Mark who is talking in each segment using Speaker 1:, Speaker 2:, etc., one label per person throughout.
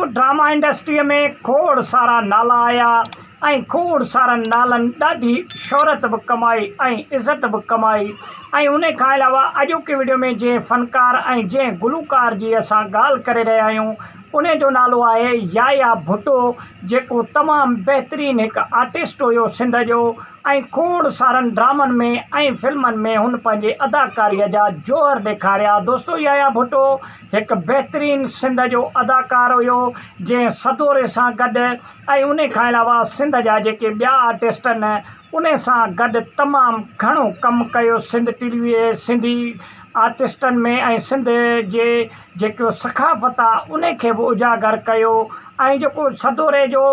Speaker 1: Drama انڊسٽريء ۾ کوڙ سارا نالا آيا ۽ کوڙ سارن نالن ڏاڍي شهرت به ڪمائي ۽ عزت به ڪمائي ۽ انهيء کان علاوه اڄوڪي وڊيو ۾ جنهن فنڪار ۽ جنهن گلوڪار جي اسان ڳالهه ڪري رهيا آهيون انهيء جو نالو آهي يايا ڀٽو جيڪو تمام بهترين هڪ آرٽسٽ هيو سنڌ جو ۽ کوڙ سارن ڊرامن ۾ ۽ فلمن ۾ هن پنهنجي اداڪاريء جا جوهر ڏيکاريا دوستو يايا ڀٽو هڪ بهترين سنڌ جو اداڪار هيو جنهن سدوري سان گڏ ۽ انهي کان علاوه سنڌ جا جيڪي ٻيا آرٽسٽ آهن انهي سان گڏ تمام گهڻو ڪم ڪيو سنڌ ٽي وي سنڌي آرٽسٽن ۾ ۽ سنڌ جي جيڪو ثقافت آ انهي کي به اجاگر ڪيو ۽ جيڪو سدوري جو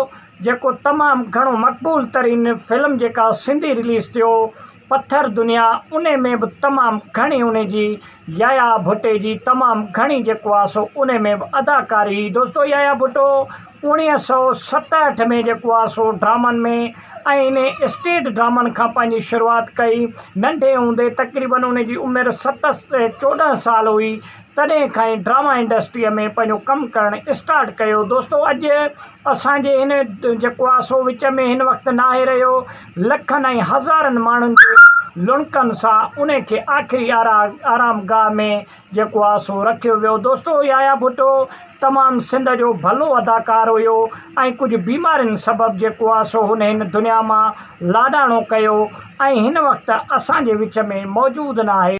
Speaker 1: جيڪو تمام گهڻو مقبول ترين فلم جيڪا سنڌي رليز ٿيو پٿر دنيا انهي ۾ به تمام گهڻي انهي جي يايا ڀٽي جي تمام گهڻي جيڪو آ سو انهي ۾ به اداڪاري هئي دوستو يايا ڀٽو اوڻيهه سؤ ستهٺ ۾ جيڪو آ سو ڊرامن ۾ ۽ انهي اسٽيج ڊرامن کان پنهنجي شروعات ڪئي ننڍي هوندي تقريبن انهي جي عمر ست چوڏهن سال هئي تڏهن کان ئي ڊراما انڊسٽريء ۾ پنهنجو ڪم ڪرڻ اسٽارٽ ڪيو دوستو اڄ اسان جي هن جيڪو آهي سو وچ ۾ هن وقت ناهي رهيو لکن ۽ هزارن ماڻهن جي لڻڪن سان ان کي آخري آرام گاهه ۾ جيڪو آهي سو رکيو ويو دوستو يحيٰ ڀٽو تمام سنڌ جو ڀلو اداڪار هيو ۽ ڪجهه بيمارين سبب جيڪو آهي سو هن هن دنيا مان لاڏاڻو ڪيو ۽ هن وقت اسان جي وچ ۾ موجود ناهي.